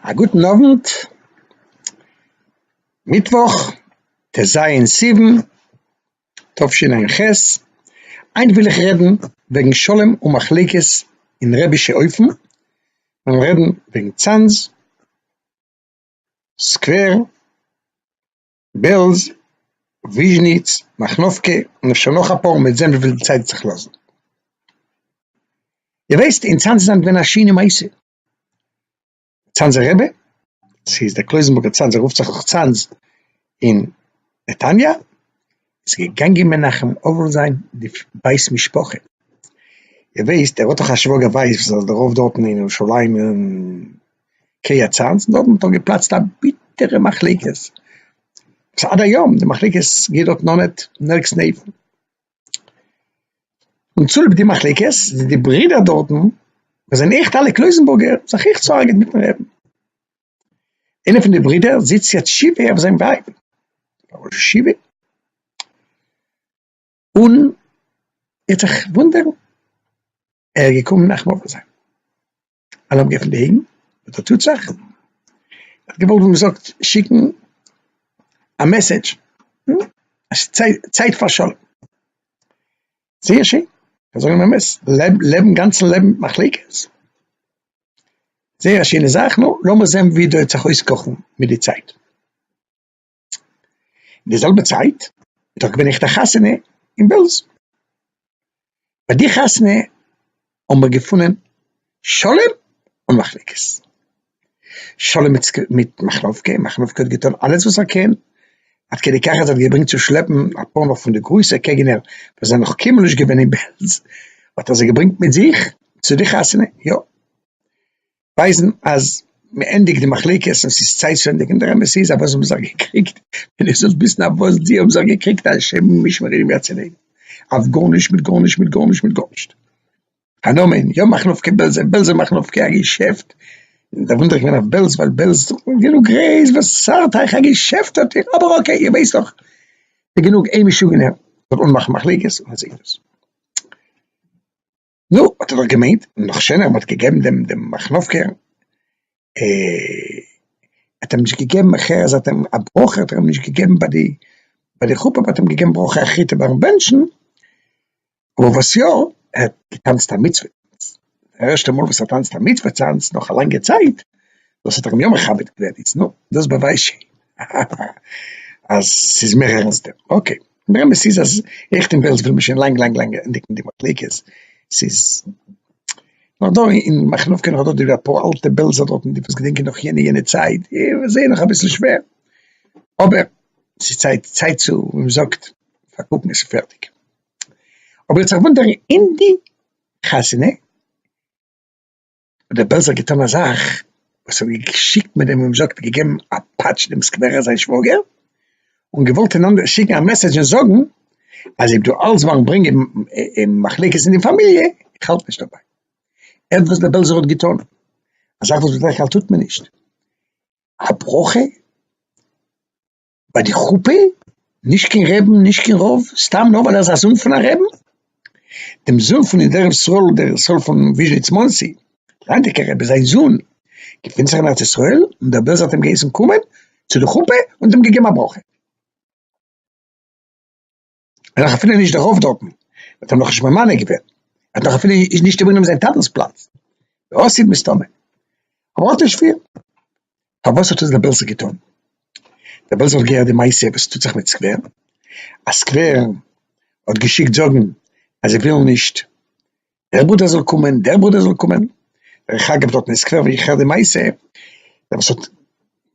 א גוטן אוונט, מיטוואך ט' ז' סיוון תשע ח, היינט וויל איך רעדן וועגן שלום ומחלוקת אין רבי'שע הויפן, מיר וועלן רעדן וועגן צאנז סקווער. בעלז, וויזשניץ, מאכנובקע, און אפשר נאך אפאר, מען וועט זען וויפיל די צייט וועט זיך לאזן. איר ווייסט, אין צאנז איז היינט געווען א שיינע מעשה. צאנזער רבי, ס'איז דער קלויזענבורגער צאנז, ער רופט זיך דאך צאנז אין נתניה, איז געגאנגען מנחם אבל זיין די בית משפחה, איר וויסט ער האט דאך א שוואגער ווייס וואס איז דערויף דארט אין ירושלים אין קרית צאנז, דארט האט דאך געפלאצט א ביטערע מחלוקת, עד היום די מחלוקת גייט דארט אן אט נערקס נעווען, און צוליב די מחלוקת זענען די ברידער דארטן וואס זענען עכט אלע קלויזענבורגער זיך עכט ס'הארגעט מיטן רעבן. איינע פון די ברידער זיצט יעצט שבעה אויף זיין ווייב פאר ראש ישיבה, און ער האט זיך וואונדערן, ער איז געקומען מנחם אבא זיין, אז מ'האט געעפנט די אויגן, וואס דא טוט זיך, ער האט געוואלט ווי מ'זאגט שיקן א מעסעדזש אז ס'איז צייט פאר שלום, זייער שיין, זיי זאגן אמת, לעבן גאנצן לעבן מיט מחלוקת. זייער א שיינע זאך, נו, לאמיר זען ווי דא העט זיך אויסקאכן מיט די צייט. אין די זעלבע צייט איז דאך געווען עכט א חתונה אין בעלז. ביי די חתונה האבן מיר געפונען שלום און מחלוקת. שלום מיט מיט מחלוקה, מחלוקה האט געטון אלעס וואס ער קען עד כדי כך אז ער האט געברענגט צו שלעפן אפאר נאך פון די גרויסע קעגנער וואס זענען נאך קיינמאל נישט געווען אין בעלז, האט ער זיי געברענגט מיט זיך צו די חתונה, יא, ווייזן אז מען ענדיגט די מחלוקת און ס'איז צייט צו ענדיגן, דער אמת איז אז וואס האבן זיך געקריגט, ווען איר זאלט וויסן אויף וואס די האבן זיך געקריגט, השם ישמרינו מהצילנו, אויף גארנישט מיט גארנישט מיט גארנישט מיט גארנישט. הנאמן, יא מאכן אויף קען בעלזע, בעלזע מאכן אויף קען א געשעפט, דער וואונדער איז געווען אויף בעלז ווייל בעלז דארט איז גענוג גרעז, וואס צארט אייך א געשעפט האט איר, אבער אקעי איר ווייסט דאך, ס'איז גענוג איין משוגענער זאל אנמאכן מחלוקת און מען זעט דאס. נו, האט ער דאך געמיינט, נאך שענער מען האט געגעבן דעם דעם מאכנובקער האט אים נישט געגעבן אז האט אים א ברכה האט ער אים נישט געגעבן ביי די ביי די חופה באט אים געגעבן ברכה א חיטה ביים בענטשן אבער וואס יא ער האט געטאנצט א מצוה די ערשטע מאל וואס ער טאנצט א מצוה טאנץ נאך א לאנגע צייט דאס האט ער אים יא מכבד געווען איז נו דאס באווייזט שוין אז ס'איז מער ערנסטער אקעי. דער אמת איז אז איך און בעלז וויל מיר שוין לאנג לאנג לאנג ענדיגן די מחלוקת, ס'איז נאך דא אין מאחנובקא נאך דא די אפאר אלטע בעלזער דארטן די וואס געדענקען נאך יענע יענע צייט איז זייער נאך אביסל שווער, אבער ס'איז צייט צייט צו ווי מ'זאגט פארקוקן עס און פערטיג. אבער איך האב זיך געוואונדערן אין די חתונה, האט דער בעלזער געטאן א זאך וואס האט געשיקט מיט דעם וואס מען זאגט געגעבן א פאטש דעם סקווערער זיין שוואגער, און געוואלט אין אנדערע שיקן א מעסעדזש און זאגן אז אויב דו האלטסט ביים ברענגען מחלוקת אין די פאמיליע, איך האלט נישט דערביי. ער'ט וואס דער בעלזער האט געטאן, א זאך וואס בדרך כלל טוט מען נישט, א ברכה? ביי די חופה, נישט קיין רעבן נישט קיין רב, סתם נאר ווייל ער איז א זון פון א רעבן, דעם זון פון די דרך ישראל דרך ישראל פון וויזשניץ מאנסי, ליידיגע רעבן זיין זון געפינט זיך אין ארץ ישראל און דער בעלזער האט אים געהייסן קומען צו די חופה און אים געגעבן א ברכה. ער דאך אפילו נישט דערויף דארטן, מען האט אים נאך נישט ממנה געווען, ער האט נאך אפילו נישט איבערגענומען זיין טאטענס פלאץ, די אסיד מסתמא, אבער אט איז שווער. פארוואס האט עס דער בעלזער געטון? דער בעלזער האט געהערט די מעשה וואס טוט זיך מיט סקווער, אז סקווער האט געשיקט זאגן אז זיי ווילן נישט דער ברודער זאל קומען, דער ברודער זאל קומען, דרך אגב דארטן אין סקווער ווי איך הער די מעשה, דער וואס האט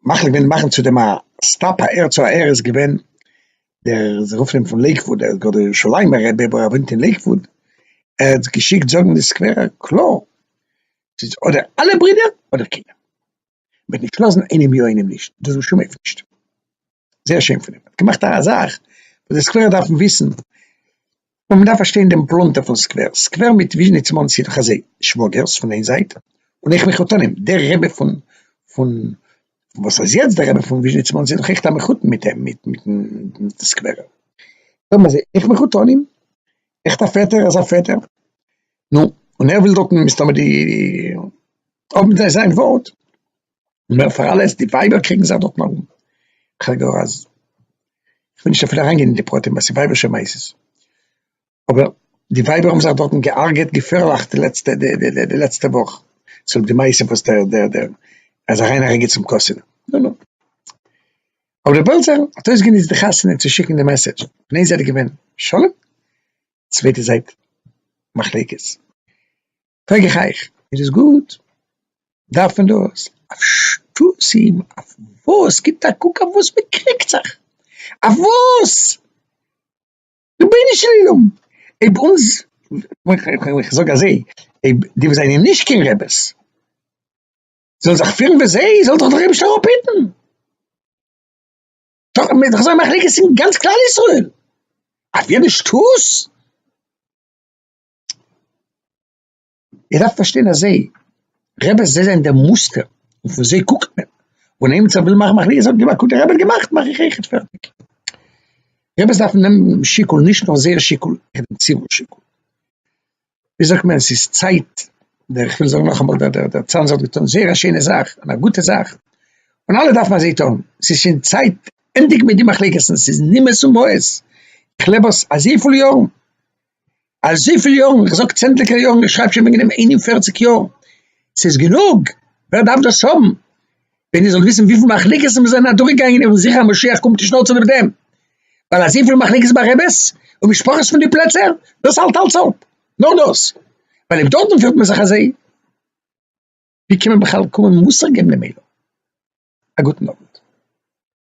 מחליט געווען מאכן צו דעם א סטאפ א ר צו א ר איז געווען דער, זיי רופן אים פון לעיקוואוד, ער איז גאר דער ירושלימ'ער רבי אבער ער וואוינט אין לעיקוואוד, ער האט געשיקט זאגן די סקווערער קלאר, ס'איז אדער אלע ברודער אדער קיינער, מ'וועט נישט לאזן איינעם יא איינעם נישט, דאס בשום אופן נישט. זייער שיין פון אים, האט געמאכט א זאך וואס די סקווערער דארפן וויסן, און מען דארף פארשטיין דעם פלונטער פון סקווער, סקווער מיט וויזשניץ מאנסי איז דאך אזוי, שוואגערס פון איין זייט, און איך מחותנים, דער רבי פון פון וואס איז יעצט דער רבי פון וויזשניץ מאנסי איז דאך עכט א מחותן מיט אים, מיט מיטן סקווערער, זאג מיר זי, איך מחותנים? עכט א פעטער אזא פעטער? נו, און ער וויל דוקא מסתמא די, האבן זיי זיין ווארט. און מער פאר אלעס, די ווייבער קריגן זיך דארטן ארום, כ'האב געהער אז, כ'וויל נישט אפילו אריינגיין אין די פרטים ווייל ס'איז ווייבערשע מעשות, אבער די ווייבער האבן זיך דארטן גע'הרג'עט געפערליך די לעצטע די לעצטע וואך, צוליב די מעשה וואס דער דער דער אז אריין אריינגיין צום קאסינע, נו נו. אבער דער בעלזער האט אויסגענוצט די חתונה צו שיקן די מעסעדזש, פון איין זייט איז געווען שלום, צווייטע זייט מחלוקת. פרעג איך אייך, איז דאס גוט? דארף מען דאס? אויף שטותים? אויף וואס? גיבט א קוק אויף וואס מען קריגט זיך! אויף וואס? רבונו של עולם! אויב אונז, איך זאג אזוי, אויב די וואס זענען נישט קיין רעבעס, זאלן זיך פירן ווי זיי, זאל זיך דער אייבערשטער אראפהיטן! טאקע מען איז דאך אזוי מחלוקת אין גאנץ כלל ישראל! אויף יעדע שטות? איר דארפט פארשטיין אז זיי, רעבעס זיי זענען דער מוסטער, און פון זיי קוקט מען, און איינער וואס וויל מאכן מחלוקת זאגט אים א קוק די רבי האט געמאכט מאך איך אויכעט פערטיג. רעבעס דארפן נעמען שיקול נישט נאר זייער שיקול נאר דעם ציבור שיקול. ווי זאגט מען עס איז צייט, דער איך וויל זאגן נאכאמאל דער דער דער צאנז האט געטון זייער א שיינע זאך און א גוטע זאך, און אלע דארפן אזוי טון, עס איז שוין צייט ענדיגן מיט די מחלוקת'ן עס איז נימאס און בויעס, איך לעב עס אזויפיל יארן, אזויפיל יארן, איך זאג צענדליגער יארן, איך שרייב שוין וועגן דעם ענין פֿערציק יאר, ס'איז גענוג, ווער דארף דאס האבן? ווען איר זאלט וויסן וויפיל מחלוקת'ן מיר זענען אדורכגעגאנגען און ווי זיכער אז משיח קומט נישט נאר צוליב דעם, ווייל אזויפיל מחלוקת ביי רעבעס און משפחות פון די פלעצער, דאס האלט אלץ אפ, נאר דאס, ווייל אויב דארטן פירט מען זיך אזוי, ווי קען מען בכלל קומען מוסר געבן דעם עולם? א גוטן אוונט.